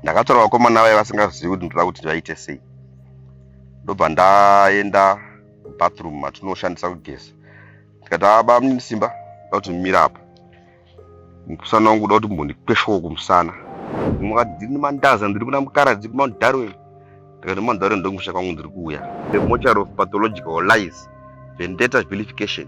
ndakatora vakomana vaye vasingazivi kuti ndoda kuti vaite sei ndobva ndaenda bathroom matinoshandisa kugeza ndikati aba mnini simba da kuti mumira apa mukusana wangu da kuti mbondikweshowo kumusana mukati ndiri nemandaza ndiri kuna mukaradzi kumount darwin ndikati mount darwin ndokumusha kwangu ndiri kuuya the mochar of pathological lies vendetta vilification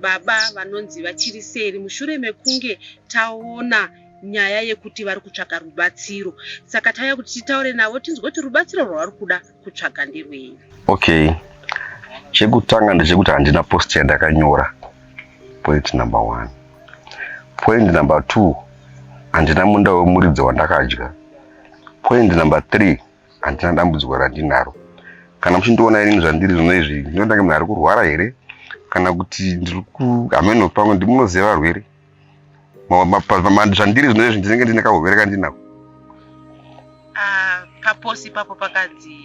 Baba vanonzi vachiri seri mushure mekunge taona nyaya yekuti vari kutsvaga rubatsiro saka tauya kuti titaure navo tinzwe kuti rubatsiro rwavari kuda kutsvaga nderwei okay chekutanga ndechekuti handina post yandakanyora point number one point number two handina munda wemuridzi wandakadya point number three handina dambudziko randinaro kana muchindiona inini zvandiri zvino izvi ndinoita kunge munhu ari kurwara here kana kuti ndiri kuhameno pamwe ndimunoziva varwere zvandiri zvino izvi ndinenge ndine kahurwere kandinako ah, paposi ipapo pakanzi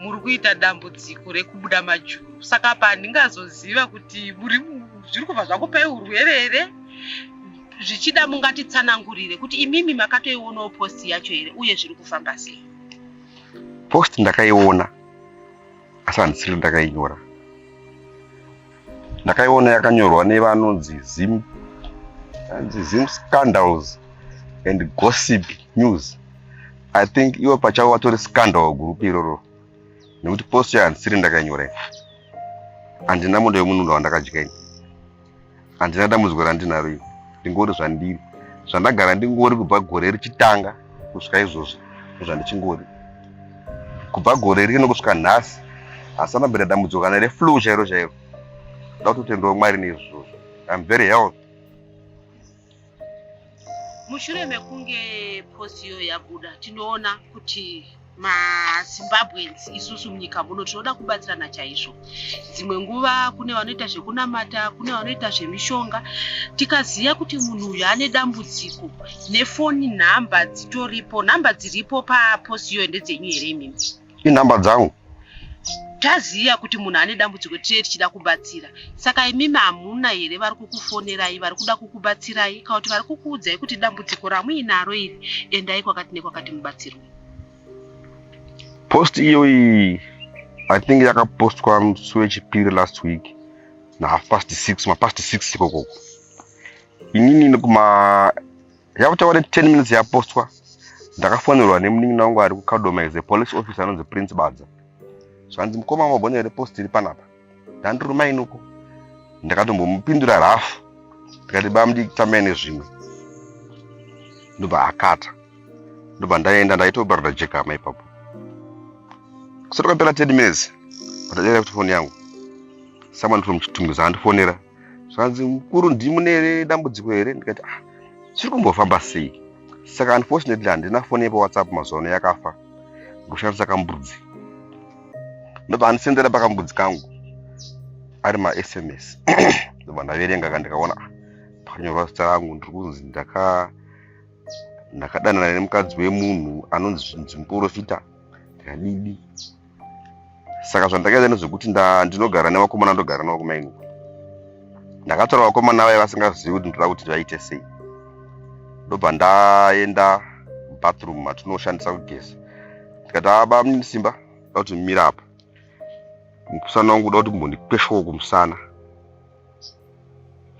muri kuita dambudziko rekubuda majuru saka apa handingazoziva kuti muri zviri kubva zvakupai urwere here zvichida mungatitsanangurire kuti imimi makatoionawo post yacho here uye zviri kufamba sei post ndakaiona asi handisiri ndakainyora ndakaiona yakanyorwa nevanonzi zim anzi zim scandals and gossip news i think iwe pachavo vatori scandal gurupu iroro nekuti post yayo handisiri ndakainyora ini handina mondo yomunundo wandakadya ini handina dambudziko randinaro ini ndingori zvandiri zvandagara ndingori kubva gore richitanga kusvika izvozvi zvandichingoda kubva gore rino kusvika nhasi hasana mbira dambudziko kana reflu chairo chairo nda kutotendawo mwari neizvozvo im very health mushure mekunge post iyo yabuda tinoona kuti mazimbabweans isusu munyika muno tinoda kubatsirana chaizvo dzimwe nguva kune vanoita zvekunamata kune vanoita zvemishonga tikaziva kuti munhu uyu ane dambudziko nefoni nhamba dzitoripo nhamba dziripo paposi iyoyo ndedzenyu here imimi inhamba dzangu taziva kuti munhu ane dambudziko tiye tichida kubatsira saka imimi hamuna here vari kukufonerai vari kuda kukubatsirai kana kuti vari kukuudzai kuti dambudziko ramuinaro iri endai kwakati nekwakati mubatsirwa post iyoyi i think yakapostwa musi wechipiri last week nahaf past six mapast six ikoko inini nekuma yakutaura kuti ten minutes yapostwa ndakafonerwa nemunin'ina wangu ari kukadoma is a police officer anonzi prince badza zvanzi mukoma mabhonya here post iri panapa ndandiruma inuko ndakatombomupindura rafu ndikati bamdi tamai nezvimwe ndobva akata ndobva ndaenda ndaitobarira jekama ipapo kusati kwapera 10 minutes ndadera kuti foni yangu someone from chitungu zaandifonera zvikanzi mukuru ndimune dambudziko here ndikati ah chiri kumbofamba sei saka unfortunately handina foni yepawhatsapp mazuva ano yakafa ndokushandisa kambudzi ndobva andisendera pakambudzi kangu ari masms ndobva ndaverenga ka ndikaona ah, pakanyorwa zita rangu ndiri kunzi ndaka ndakadanana nemukadzi wemunhu anonzi zvinzi muporofita Hanidi. Saka zvandakaita nezvekuti ndinogara nevakomana ndogara navo kumaini. Ndakatora vakomana vaya vasingazivi kuti ndoda kuti vaite sei. Ndobva ndaenda bathroom matinoshandisa kugeza. Ndikati aba ah, mune simba kuti mira apa. Mukusana wangu kuda kuti mbondikweshawo kumusana.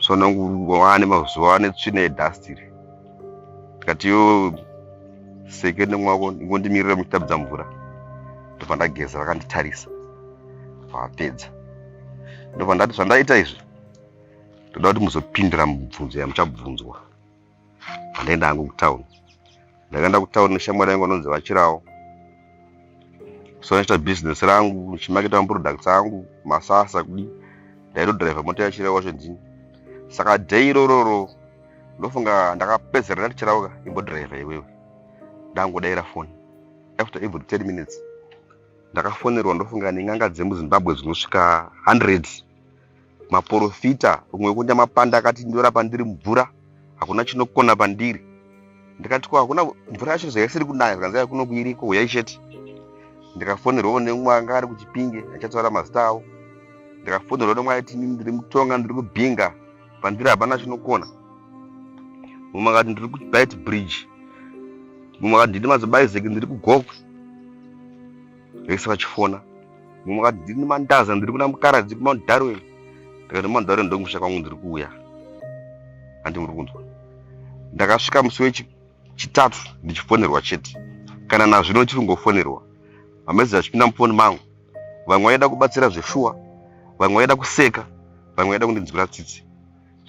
sononguvane mazuva ane tsvina yedhastiri tikati yo seke nemwako ingondimirira muchitabudza mvura ndobva ndageza vakanditarisa vapedza ndobva ndati zvandaita izvi ndoda kuti muzopindira mubvunzo yamuchabvunzwa handaenda hangu kutown ndakaenda kutown neshamwari yangu anonzi vachirawo so ndaita business rangu ndichimaketa maproducts angu masasa kudi ndaitodriver mota yachirawo wacho ndini saka day irororo ndofunga ndakapedzera ndati chirauka imbodriver iwewe ndangodaira foni after every ten minutes ndakafonerwa ndofunga neng'anga dzemuzimbabwe dzinosvika hundreds maporofita umwe wekuenda mapanda akati ndorapa ndiri mvura hakuna chinokona pandiri ndikati ko hakuna mvura yacho zvaisiri kunaya zvikanzi yai kunoku iriko huyai chete ndikafonerwawo nemumwe anga ari kuchipinge achataura mazita avo ndikafonerwa nemumwe aiti inini ndiri mutonga ndiri kubhinga pandiri hapana chinokona mumwe akati ndiri kubit bridge mumwe akati ndiri mazobaizeki ndiri kugokwe vese vachifona Mukati ndiri mandaza ndiri kuna mukaradzi kumount darwin ndikati mount darwin ndokumusha kwangu ndiri kuuya handi muri kunzwa ndakasvika musi wechitatu ndichifonerwa chete kana nazvino chiri kungofonerwa amazezi achipinda mufoni mangu vamwe vaida kubatsira zveshuwa vamwe vaida kuseka vamwe vaida kundinzwira tsitsi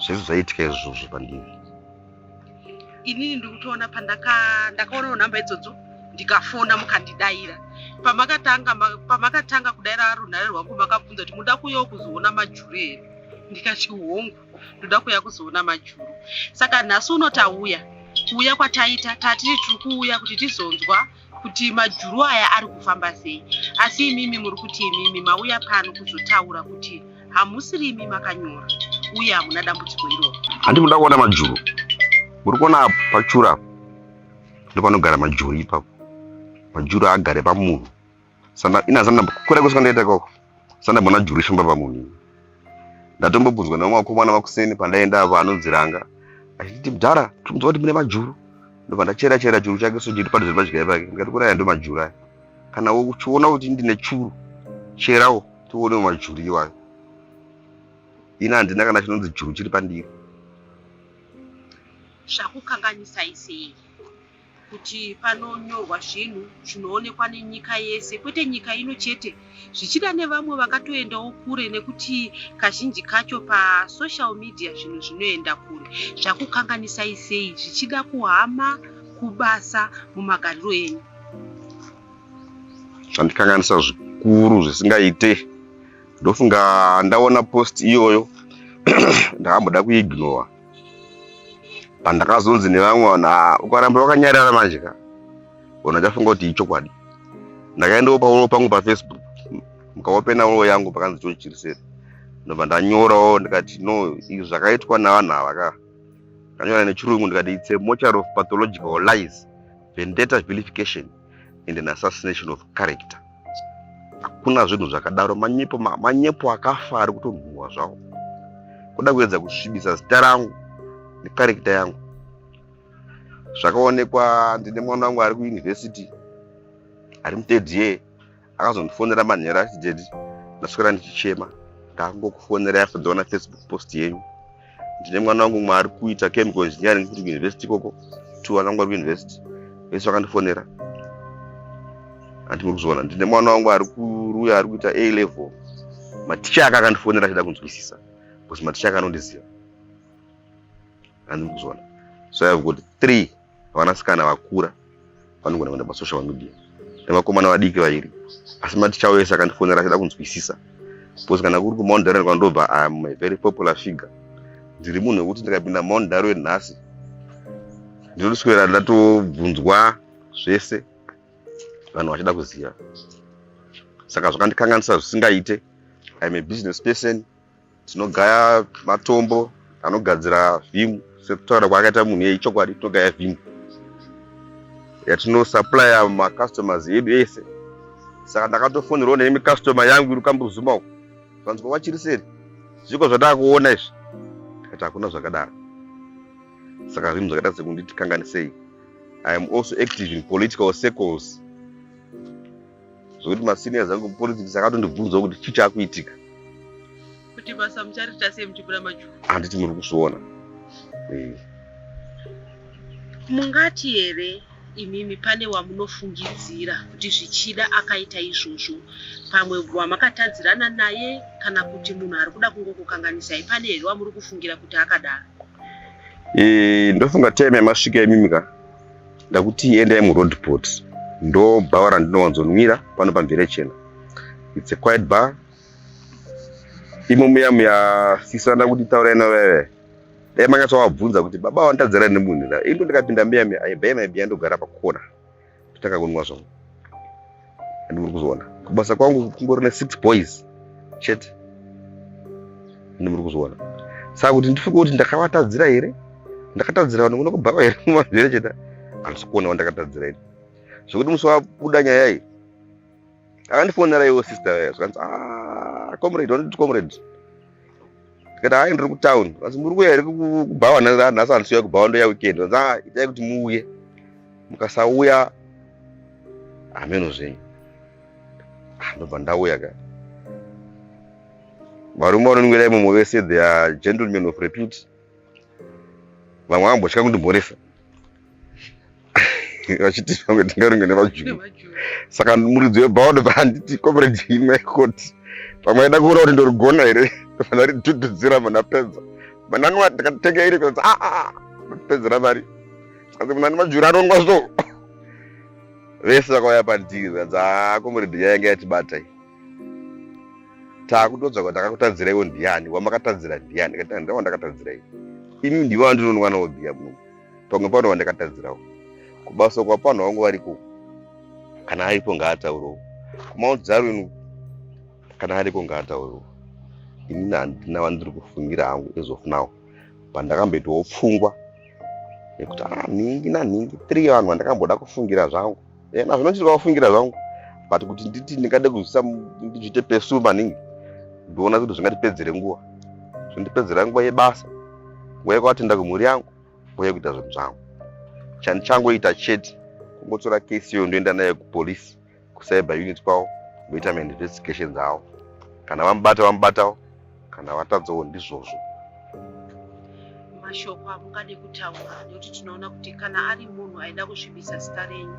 zvese zvaitika izvozvo pandiri inini ndikutoona pandakaonawo nhamba idzodzo ndikafona mukandidaira pamakatanga pamakatanga kudaira arunhare rwangu makabvunza kuti muda kuuya kuzoona majuru here ndikati hongu ndoda kuuya kuzoona majuru saka nhasi unoti auya kuuya kwataita tatiri tiri kuuya kuti tizonzwa kuti majuru aya ari kufamba sei asi imimi muri kuti imimi mauya pano kuzotaura kuti hamusiri imi makanyora uye hamuna dambudziko iroro handi muda kuona majuru muri kuona apo pachura apo ndopanogara majuru ipapo majuru agare pamunhu sana ina sana kure kusvika ndaita ikoko sana bona juri shumba pamunhu ndatombobvunzwa nevamwe vakomana vakuseni pandaenda avo anonziranga achiti mdhara timudzwa kuti mune majuru ndobva ndachera chera churu chake so chiri padhuze padyai pake ndikati kuraya ndo majuru aya kana uchiona kuti ndine churu cherawo tione majuru iwayo ini handina kana chinonzi juru chiri pandiri zvakukanganisa isei kuti panonyorwa zvinhu zvinoonekwa nenyika yese kwete nyika ino chete zvichida nevamwe vakatoendawo kure nekuti kazhinji kacho pasocial media zvinhu zvinoenda kure zvakukanganisai sei zvichida kuhama kubasa mumagariro enyu zvandikanganisa zvikuru zvisingaite ndofunga ndaona post iyoyo ndakamboda kuignora pandakazonzi nevamwe vanhu ah, ukaramba wakanyarara manje ka ona chafunga kuti ichokwadi ndakaendawo pauro pangu pafacebook mukawopena uro yangu pakanzi chochiriseri ndobva ndanyorawo ndikati no izvi zvakaitwa navanhu ava ka ndanyora nechirungu ndikati its a moture of pathological lies vendetta vilification and an assassination of character hakuna zvinhu zvakadaro manyepo manyepo akafa ari kutonhuhwa zvawo kuda kuedza kusvibisa zita rangu nekarekta yangu zvakaonekwa ndine mwana wangu ari kuyunivhesiti ari muthird year akazondifonera manheru achiti dedi ndaswera ndichichema ndakungokufonera after ndaona facebook post yenyu ndine mwana wangu mwe ari kuita chemical engineering kuti kuuniversity ikoko two vana vangu vari kuuniversity vese vakandifonera andimuri kuzviona ndine mwana wangu ari kuruya ari kuita a level maticha aka akandifonera achida kunzwisisa bcause maticha aka anondiziva andimuri kuzviona so i have got three vanasikana vakura vanogona kuenda pasocial media nevakomana vadiki vairi asi maticha wese akandifonera achida kunzwisisa because kana kuri kumount darian kwandobva iam a very popular figure ndiri munhu wekuti ndikapinda mount darian nhasi ndinotoswera ndatobvunzwa zvese vanhu vachida kuziva saka zvakandikanganisa zvisingaite iam a business person tinogaya matombo anogadzira vim sekutaura kwaakaita munhu iye ichokwadi tinogaya vim yatinosupplya macustomers edu ese saka ndakatofonerwa nemi customer yangu iri kambuzuma uku vanzwa vachiri seri zviko zvataakuona izvi kati hakuna zvakadaro saka zvinhu zvakaita sekunditi kanganisei i am also active in political circles zvekuti maseniors angu politics akatondibvunzawo kuti chii chakuitika kuti basa muchariita sei muchibura majuru handiti muri kuzviona eh. mungati here imimi pane wamunofungidzira kuti zvichida akaita izvozvo pamwe wamakatadzirana naye kana kuti munhu ari kuda kungokukanganisai pane here wamuri kufungira kuti akadaro eh, ndofunga time yamasvika imimi ka ndakuti endai muroadport ndo bhawa randinowanzonwira pano pamvere chena its a quiet bar imo muya muya sisa ndakuti taurai noveve dai makatovabvunza kuti baba wanditadzira nemunhu ra ino ndikapinda muya muya aibhaya maibhiya ndogara pakona totanga kunwa zvangu and muri kuzviona kubasa kwangu kungori nesix boys chete and muri kuzviona saka kuti ndifunge kuti ndakavatadzira here ndakatadzira vanhu kuno kubhava here mumazvere chete handisi kuonawo ndakatadzira ini zvekuti musi wabuda nyaya iyi akandifonera iwo sister yayo zvikanzi ah, comrade wanoti comrade tikati hayi ndiri kutown vanzi muri kuya here kubhawa nhasi handisiuya kubhawa ndoya weekend vanzi a itai kuti muuye mukasauya hameno zvenyu ah, ndobva ndauya ka varume vanonwira imomo vese their gentlemen of repute vamwe vambotya kundimhoresa vachiti vamwe tingarunge nevajuu saka muridzi webhaodo paanditi comrade imwe koti pamwe aida kuona kuti ndorigona here vanaridhudhudzira muna pedza manani vati ndikatenge iri kuti aa ah, ah, ah, pedzera mari asi munani majuri anongwa so vese vakauya pandiri zvanzi aa comrade yayanga yatibata iyi takutoudza kuti ndakakutadziraiwo ndiani wamakatadzira ndiani kati ndandira wandakatadzirai ini ndivo vandinonwana wobhiya muno pamwe pano wandakatadzirawo kubasa kwapano wangu variko kana aripo ngaataurewo kumount zarwin kana aripo ngaataurewo ini handina vandiri kufungira hangu as of now pandakamboitawo pfungwa nekuti ah, nhingi nanhingi three vanhu vandakamboda kufungira zvangu ena eh, zvinochitika kufungira zvangu but kuti nditi ndingade kuzvisa ndizviite pesu maningi ndiona kuti zvingatipedzere nguva zvondipedzera nguva yebasa nguva yekuatinda kumhuri yangu nguva yekuita zvinhu zvangu chandichangoita chete kungotora kesi iyo ndoenda nayo kupolice kucyber unit kwavo voita mainvestigations avo kana vamubata vamubatawo kana vatadzawo ndizvozvo mashoko amungade kutaura nekuti tinoona kuti kana ari munhu aida kusvibisa zita renyu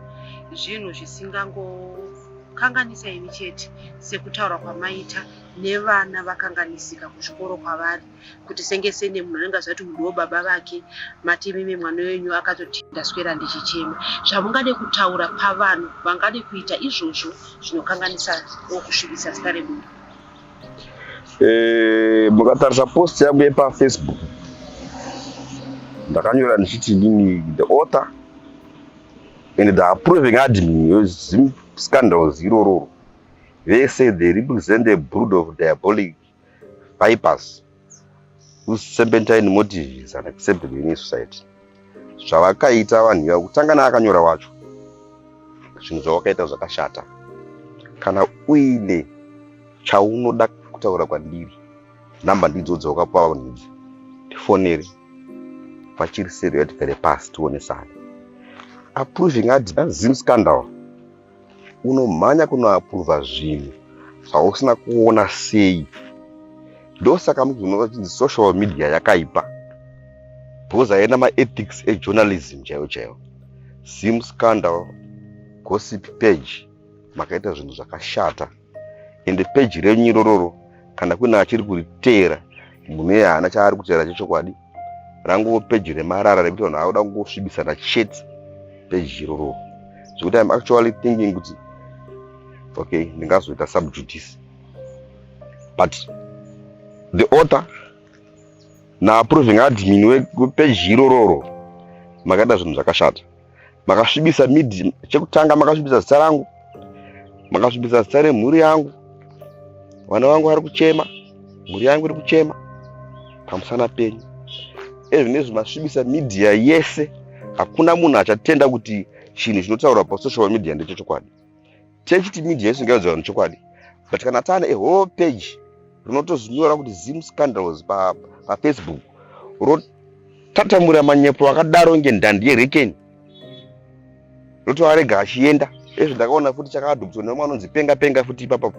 zvinhu zvisingangokanganisa imi chete sekutaura kwamaita nevana vakanganisika kuzvikoro kwavari kuti senge sene munhu anenge azvati mudiwo baba vake mati imimi mwana wenyu akatoti ndaswera ndichichema zvamungade kutaura pavanhu vangade kuita izvozvo zvinokanganisa okusvibisa zita remunhu Eh, mukatarisa post yangu yepafacebook ndakanyora ndichiti ndini the author and the approving admin yezim scandals irororo they say they represent a brood of diabolic vipers Serpentine motive is unacceptable in society. Zvavakaita vanhu ivavo kutanga naakanyora wacho zvinhu zvawakaita zvakashata. Kana uine chaunoda kutaura kwandiri nhamba ndidzo dzawakapiwa vanhu idzi tifonere vachiri seriyo tigare pasi tionesane approving adina zim scandal unomhanya kunoapuruvha zvinhu zvausina kuona sei ndosaka mnzi unova chinzi social media yakaipa bhoza yena maethics ejournalism chaiwo chaiwo sim scandal gossip page makaita zvinhu zvakashata ende peji renyu irororo kana kune achiri kuriteera munhu iye haana chaari kuteera chechokwadi rangovo peji remarara rekuti vanhu vakuda kungosvibisana chete peji irororo zvekuti im actually thinking kuti okay ndingazoita subjudice but the author naapproving admin wepeji irororo makaita zvinhu zvakashata makasvibisa mid chekutanga makasvibisa zita rangu makasvibisa zita remhuri yangu vana vangu vari kuchema mhuri yangu iri kuchema pamusana penyu ezvinezvi masvibisa media yese hakuna munhu achatenda kuti chinhu chinotaurwa pasoshal media ndechechokwadi Church to media yesu ngaiudza vanhu chokwadi but kana taane a whole page rinotozvinyora kuti zim scandals pafacebook pa rotatamura manyepo akadaro nge ndhandi yerekeni rotoarega achienda ezvo ndakaona futi chakadhubiswa nemwe anonzi penga penga futi ipapa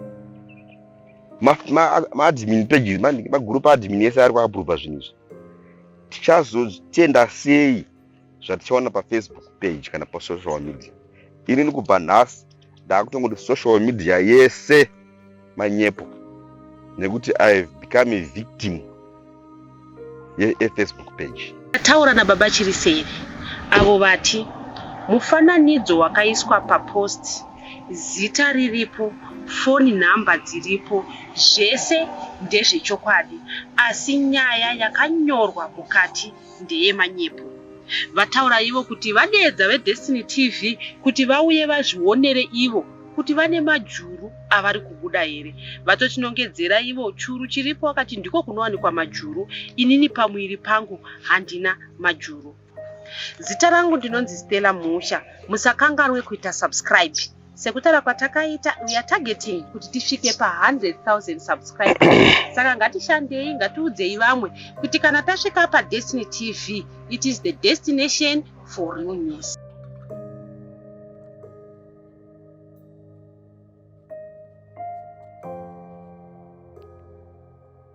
maadmin pages maguru paadmin ese ari kuaprova zvinhu izvi tichazotenda sei zvatichaona pafacebook page kana pasocial media ini ndikubva nhasi ndaakutongoti social media yese manyepo nekuti i have become a victim yefacebook page ataura nababa chiriseri avo vati mufananidzo wakaiswa papost zita riripo foni nhamba dziripo zvese ndezvechokwadi asi nyaya yakanyorwa mukati ndeye manyepo. Vataura ivo kuti vadeedza veDestiny TV kuti vauye vazvionere ivo kuti vane majuru avari kubuda here. Vatotinongedzera ivo churu chiripo vakati ndiko kunowanikwa majuru, inini pamuviri pangu handina majuru. Zita rangu ndinonzi Stella Mhusha, musakanganwe kuita subscribe. Sekutaura kwatakaita we are targeting kuti tisvike pa 100,000 subscribers. Saka ngatishandei ngatiudzei vamwe kuti kana tasvika pa Destiny TV it is the destination for real news.